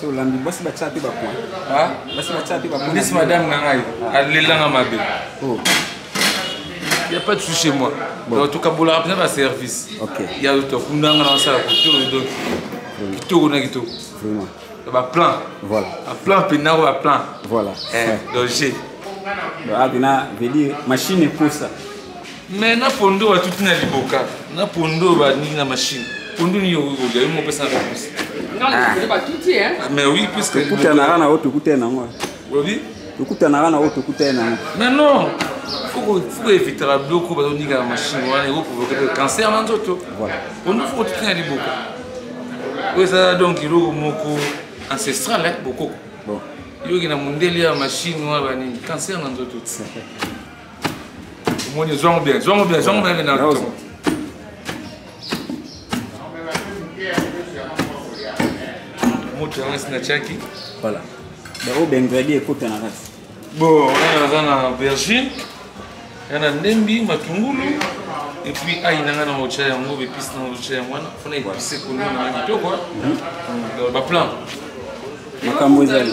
so olambi basi batya mpe bapoint basi batya mpe bapointnisi madame na ngai alelanga mabe oh. y a pas de souci chez moi donc tokabolaka mpenza baservice ya tokundanga na basala kotoo donc kitoko na kitoko baplan baplan mpe nako baplan donc je donc abina veut dire machine ekosa mais na pondo batuti na liboka na pondo baningi na machine pondo nini okolia yo mopesa na réponse ah. mais oui puisque tokutanaka na oyo tokutani nango olobi tokutanaka na oyo tokutani nango mais non faut que evitaka biloko bazoninga na machine wana ekoprovoke mpe cancer na nzoto pondo faut kotuti na liboka oyo eza donc eloko moko ancestral bokoko yoki na mondele ya machine wana banini cancer na nzoto omoni zwango bien zwango bien zwango bien na moto yango esi natiaki voilà bango bengredi ekota na kati bo wana naza na aubergine ya na ndembi matungulu epuis ai na ngai na otya yango bepisi na otya yango wana mpona epise kolio na ngai kitoko baplan makambo ezali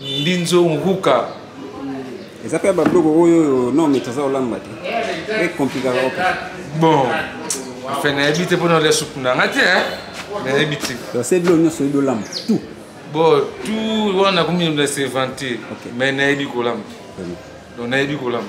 Mbinzo Nhuka. Eza pe ba biloko oyo oyo non mais toza olamba te. Pe compliquer ko. Bon. Enfin na yebi te pona olia soupe na nga te hein. Na yebi te. Donc c'est biloko nyonso oyebi olamba tout. Bon tout wana komi na se vanter. Okay. Mais na yebi kolamba. Donc na yebi kolamba.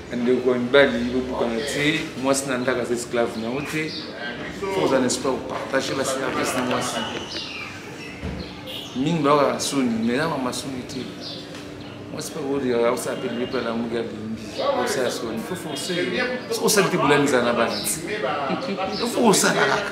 ndeko ya mibali bobukana te mwasi na ndako aza esclave na yango te fo oza na espoir kopartage baservice na mwasi mingi bayoka soni mai na mama soni te mwasi mpe akoyaka osala mpe libepe ya lamuki ya bimbi osala soni fo force osali te bolani ezala na bana te fo osala kaka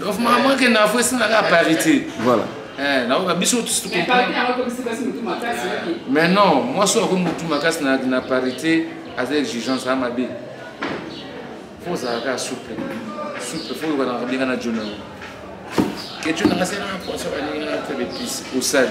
donc maman ke na fo esina ka parité voilà eh na oka biso tous tout mais non moi so ko mutu makasi na na parité aza exigence a mabe faut ça ka souple souple faut ko na bien na jona que tu na ka sera poisson ba ni na très bêtise au sale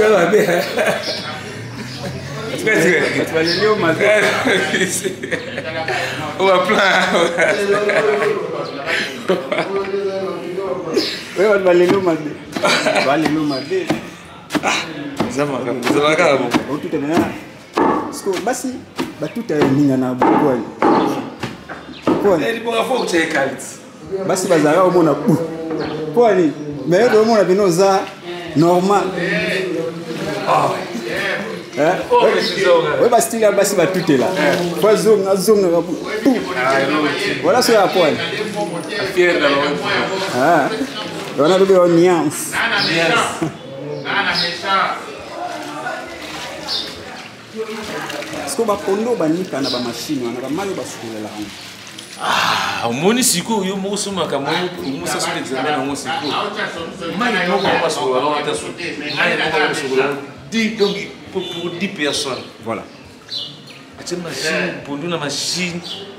ya mabe oba plan oyo bato balelo mabe balelo mabe eza makambo eza makaka bongo otuta na siko basi batuta ya ninga na bokwali bokwali basi bazalaka omona bu mpo ani mais yo omona bino oza normal ah. eh? oh, oyo bastile ya basi batutela po eh. azonga azongaka bu wala ah, soki ya poani ah. wana lobi yo niance siko bakondo banika na bamashine wana bamai oyo basukolela yango ah, omoni sikoyo yo moko somaka momosasu na examen yango sikoyo mai moko basokola wana ata mai moko basokola donc pour 10 personnes voilà atie machine pondu na machine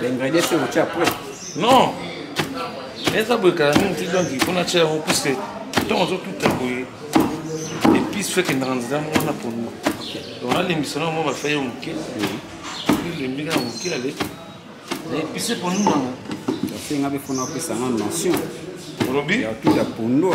L'ingrédient c'est au après. Non. Mais ça boye kala mingi donc il faut na tia yango parce que ntango ozotuta boye epice feke ndaka nzela moko na pondu donc nalembisa nango mwa bafai yo moke elembi kaka moke ale na epice pondu nango asenga mpe mpo na opesa nga notion olobi ya tout ya pondu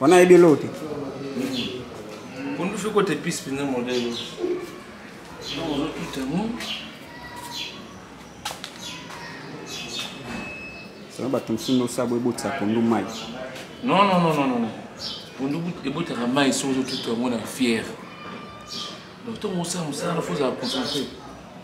wana ayebi eloko te kondusho kote pise mpenza modelo ozotutango sala bato mosusu nosabo ebotisa pondu mai non non non non non pondu ebotaka mai soki ozotuta yango na fiere donc ntongo osala mosala na fozala concentre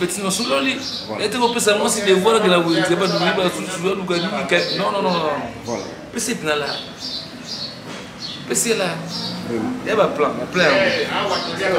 petit nasololi ete kopesa mwasi devoir akela wenze badumi basusu baluka nini non non non pesa etina la pesa la ya baplan baplan yango